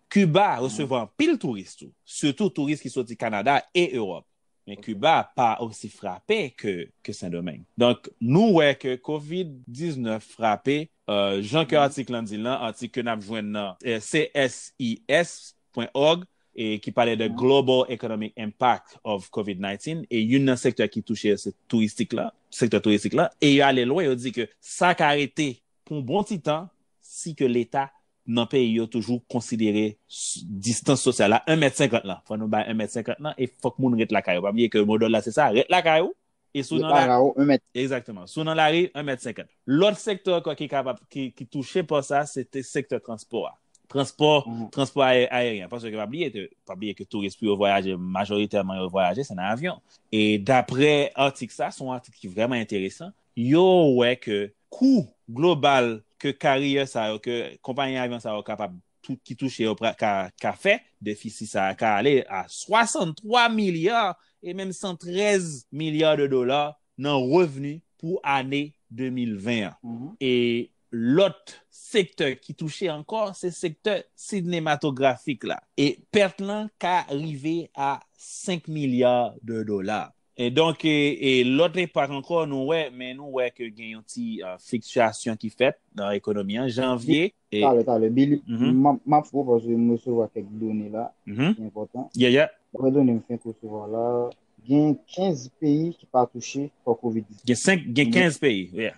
Kiba resevwa anpil touris tou, sitou touris ki soti Kanada e Ewòp. Men Kiba pa osi frape ke Sendomeng. Donk, nou wè ke Covid 19 frape, jan ke atik lan di lan, atik ke n ap jwenn nan csis.org, ki pale de Global Economic Impact of Covid 19, e youn nan sektè ki touche yo se touristik lan, sektè touristik lan, e yo ale lwen, yo di ke sa ka rete pou yon bon ti tan si ke Leta nan peyi yo toujou konsidere distans sosyal la 1 mèt 50 lan fò nou bay 1 mèt 50 lan e fòk moun ret lakay ou pa bliye ke modòl la se sa ret lakay ou e sou nan lari egzakteman sou nan lari 1 mèt 50 lòt sektè ankò ki kapab ki touche pa sa se te sektè transpò a transpò transpò aeryen paske pa bliye ke pa bliye ke touris pou yo vwayaje majoritèman yo vwayaje se nan avyon e daprè atik sa son atik ki vrèman enteresan Yo wè ke kou global ke karyè sa yo, ke konpayi avyon sa yo kapab, ki touche yo ka fè, defisi sa a ka ale a 63 milya e menm 113 milya de dola nan revni pou ane 2020 an. E lòt sektè ki touche ankò se sektè sinematografik la. E pèt lan ka rive a 5 milya de dola. E donk e lòt enpak ankò nou wè, men nou wè ke gen yon ti fliktyasyon ki fèt nan ekonomi an, janvye. Talè, talè, Billy, m ap fè w paske m resevwa kèk done la ki enpòtan. Yeah, yeah. Daprè done m fenk resevwa la, gen 15 peyi ki pa touche pa covid. Gen 5, gen 15 peyi, yeah.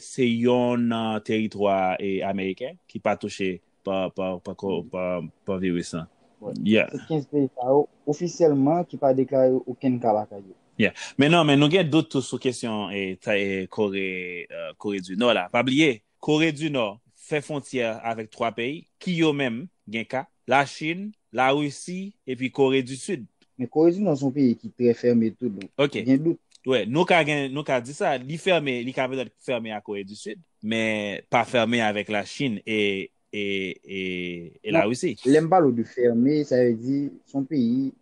Se yon nan teritwa ameriken ki pa touche pa viris lan. Se 15 peyi sa yo ofisyèlman ki pa deklare okenn ka lakay yo. Men non, men nou gen dout tou sou kesyon Kore di Nò la. Pa bliye, Kore di Nò fè fwontyè avèk 3 peyi ki yo menm gen ka. Lachin, Larisi epi Kore di Sid. Men Kore di Nò se yon peyi ki trè fème tou donk Ok. gen dout. Wè, nou ka gen, nou ka di sa, li fème, li ka petèt fème a Kore di Sid, men pa fème avèk Lachin e e e e Non, Larisi. lè m pale w de fème, sa vle di se yon peyi,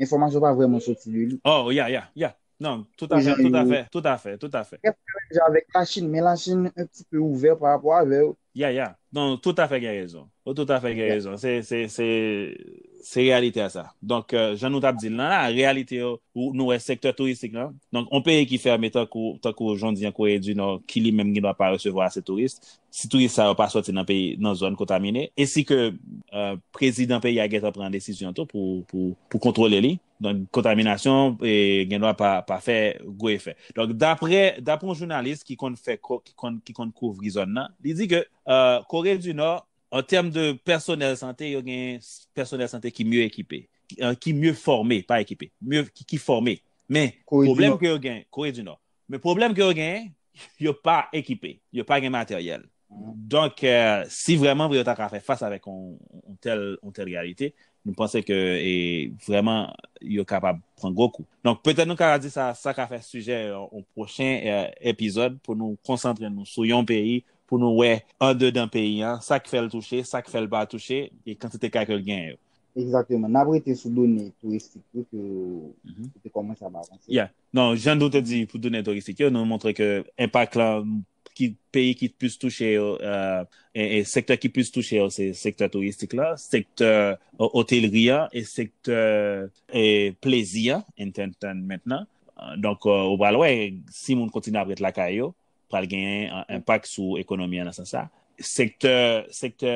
enfòmasyon pa vrèman soti de li. Oh, ya, ya, ya. Non, tout a fè, tout a fè, tout a fè, tout a fè. Gen problèm jan avèk la Chine, men la Chine un ti peu ouvè pa rapò avè yo. Ya, ya, non, tout a fè gen rezon. Ou tout a fè gen rezon. Se, se, se, se reyalite a sa. Donk, jan nou t ap di l lan la, reyalite yo, ou, nou wè sektè touristik lan. Donk, on peyi ki fèmen tankou, tankou jan w di an Corée du Nord, ki li menm gen dwa pa resevwa ase touris, si touris sa yo pa sòti nan peyi, nan zòn kontamine, e si ke, eh, prezidan peyi a gentan pran desizyon tou pou, pou, pou kontwole li. Donk kontaminasyon gendwa pa fè gwo efè. Donk dapre yon jounalis ki konn fè ki konn kouvri zòn nan, li di ke Kore di Nò an tèm de pèsonèl sante yo gen pèsonèl sante ki mye ekipe, ki mye fòme, pa ekipe, ki fòme. Men pwoblèm ke yo gen, Kore di Nò, Men pwoblèm ke yo genyen, yo pa ekipe, yo pa gen materyèl. Donk, si vrèman vre yo ta ka fè fas avèk yon tèl reyalite, nou panse ke vrèman yo kapab pran gwo kou. Donk, petèt nou ka di sa, sa ka fè sijè yon pwochen epizòd pou nou konsantre nou sou yon peyi, pou nou wè andedan peyi an, sa k fè l touche, sa k fè l pa touche, e kantite ka ke l genyen yo. Egzakteman. N ap rete sou done touristik tou ke ou te kòmanse ap avanse. Ya. Non, jan nou te di pou done touristik yo, nou montre ke enpak la ki peyi ki plis touche yo, e sektè ki plis touche yo se sektè touristik la, sektè otelri a e sektè plezi a, entertainment la. Donk ou pral wè si moun kontinye ap ret lakay yo, pral gen enpak sou ekonomi an nan sans sa. Sektè, sektè.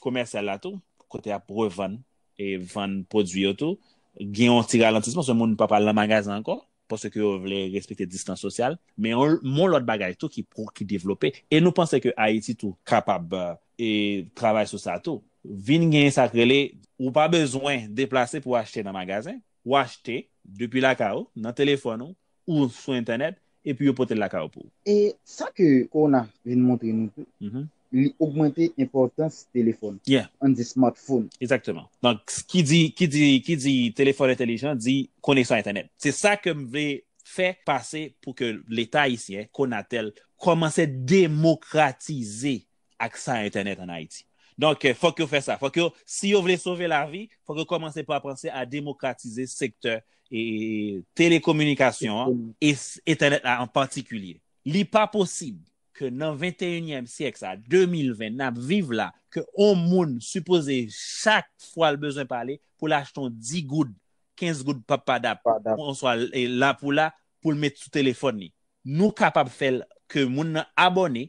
komèsyal la tou, kote y ap revann e vann pwodui yo tou, gen yon ti ralantisman paske moun pa pral nan magazen ankò, paske yo vle respekte distans sosyal. Men yon lòt bagay tou ki devlope, e nou panse ke Ayiti tou kapab travay sou sa tou, vin gen sa k rele, ou pa bezwen deplase pou w achte nan magazen, ou achte depi lakay ou, nan telefòn ou, ou sou entènèt epi yo pote l lakay ou pou. E sa ke kowona vin montre nou tou, li ogmante enpòtans telefòn, an di smartphone. Egzakteman. Donk, ki di, ki di, ki di telefòn entelijan di koneksyon entènèt. Se sa ke m vle fè pase pou ke leta ayisyen, Konatel, kòmanse demokratize aksa entènèt an Ayiti. Donk, fòk yo fè sa. Fòk yo, si yo vle sove lavi, fòk yo kòmanse pa panse a demokratize sektè telekominikasyon an, e entènèt la an patikilye. Li pa posib ke nan venteyinyèm syèk sa, 2020, n ap viv la, ke on moun sipoze chak fwa l bezwen pale, pou l achte on digoud, kenzgoud pappadap, oswa lapoula, pou l met sou telefòn li. Nou kapab fè l ke moun nan abòne,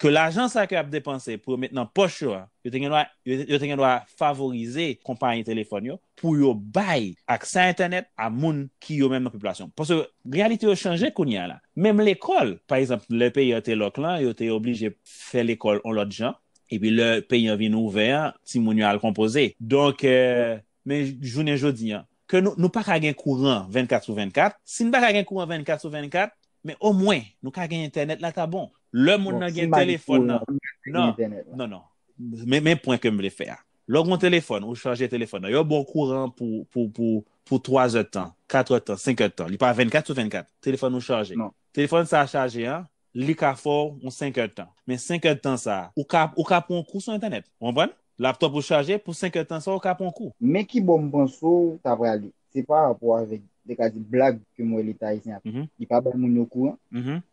ke lajan sa ke yap depanse pou yo met nan pòch yo a, yo te gen dwa, yo te gen dwa favorize konpayi telefòn yo pou yo bay aksè a entènèt a moun ki yo menm nan popilasyon. Paske reyalite yo chanje kounye a la. Menm lekòl, pa egzanp, lè peyi an te lòk lan, yo te oblije fè lekòl yon lòt jan, epi lè peyi an vin ouvè an, timoun yo al konpoze. Donk, Men jounen jodi an, ke nou, nou pa ka gen kouran 24 sou 24, si n pa ka gen kouran 24 sou 24, men omwen, nou ka gen entènèt la ta bon. Lè moun nan gen telefòn nan, nan, non, non, men, men pwen ke m vle fè a. Lè w gen yon telefòn, ou chaje telefòn nan, yo ba w kouran pou, pou, pou, pou 3 zè tan, 4 zè tan, 5 zè tan, li pa 24 sou 24, telefòn ou chaje. Telefòn sa a chaje an, li ka fè w yon senkèdtan. Men senkèdtan sa a, ou ka ou ka pran yon kou sou entènèt. Ou konprann? Laptòp ou chaje, pou senkèdtan sa a ou ka pran yon kou. Men ki bò m panse w ta prale. Se pa rapò avèk, te ka di blag ke m wè Leta ayisyen ap fè. Li pa bay moun yo kouran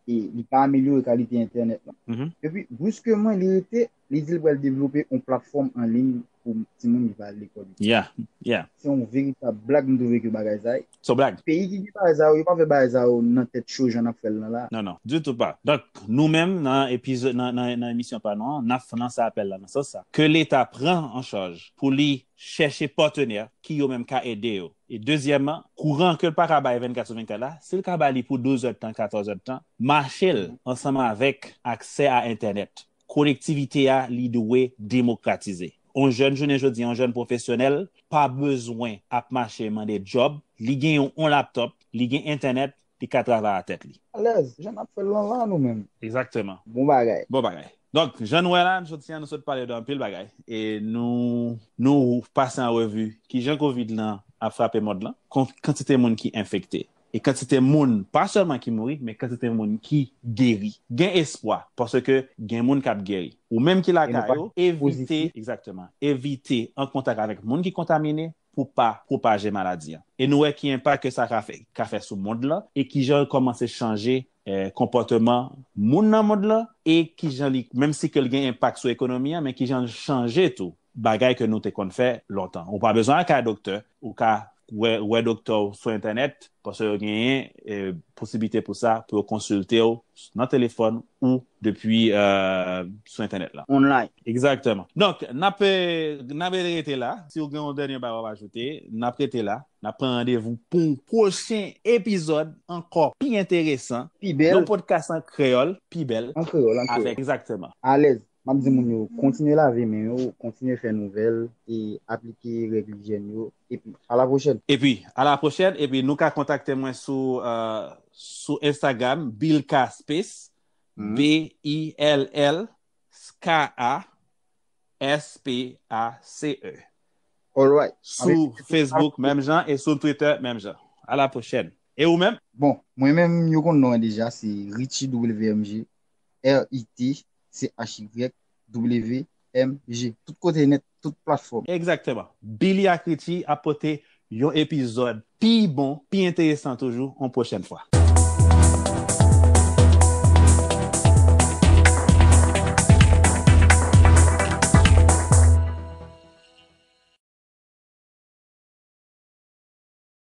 e li pa amelyore kalite entènèt lan. Epi, briskman li rete Li di l pral devlope yon platfòm an liy pou timoun ki pa al lekòl yo. Yeah yeah. Se yon veritab blag m twouve ke bagay sa. Son blag. Peyi ki gen bagay sa yo, yo pa fè bagay sa yo nan tèt cho jan n ap fè l nan la. Non non. Ditou pa. Donk, nou menm nan epizo nan nan emisyon pa nou an, n ap fè lanse apèl la nan sans sa. Ke leta pran an chaj pou li chèche patenè ki yo menm ka ede yo. E dezyèman, kouran ke l pa ka bay 24 sou 24 la, si l ka ba li pou 12 èdtan, 14 èdtan, mache l ansanm avèk aksè a entènèt. Kolektivite a li dwe demokratize. On jèn jounen jodi an, on jèn pwofesyonèl pa bezwen ap mache mande djòb, li gen yon on laptòp, li gen entènèt, li ka travay a tèt li. Alèz, jan n'ap fè l lan la nou menm. Egzakteman. Bon bagay. Bon bagay. Donk, jan nou wè la, jodi an nou sot pale de anpil bagay e nou nou pase an revi kijan kovid lan ap frape mond lan, kon kantite moun ki enfekte, E kantite moun, pa sèlman ki mouri, men kantite moun ki geri. Gen espwa, paske gen moun k ap geri. Ou menm ki lakay ou, evite, egzakteman, evite an kontak avèk moun ki kontamine pou pa pwopaje maladi an. E nou wè ki enpak ke sa ka fè sou mond lan e kijan l kòmanse chanje konpòteman moun nan mond lan e ki jan li, menm si ke l gen enpak sou ekonomi an, men ki jan l chanje tou bagay ke nou te konn fè lontan. Ou pa bezwen al kay doktè, ou ka wè doktè w sou entènèt, paske yo genyen posiblite pou sa, pou yo konsilte w nan telefòn ou depi sou entènèt lan. Online. Egzakteman. Donk, n ap rete la. Si ou gen yon dènye bagay w ap ajoute, n ap rete la. N ap pran randevou pou yon pwochen epizòd ankò pi enteresan. Pi bèl. Yon podcast an kreyòl, pi bèl. An kreyòl, an kreyòl. Avèk. Egzakteman. Alèz. M ap di moun yo, kontinye lave men yo, kontinye fè nouvèl e aplike règ lijyèn yo. Epi, alapwochèn! Epi, alapwochèn! Epi, nou ka kontakte mwen sou, sou Instagram, Bilka Space, B-I-L-L-S-K-A. S-P-A-C-E Alright Sou Facebook menm jan e sou Twitter menm jan A la pwochèn E ou menm? Bon, mwen menm yo konn non an deja se Richie WMG R-I-T-C-H-Y-W-M-G Tout kote nèt, tout platfòm. Egzakteman. Billy ak Richie ap pote Yon epizòd pi bon, pi enteresan toujou yon pwochèn fwa.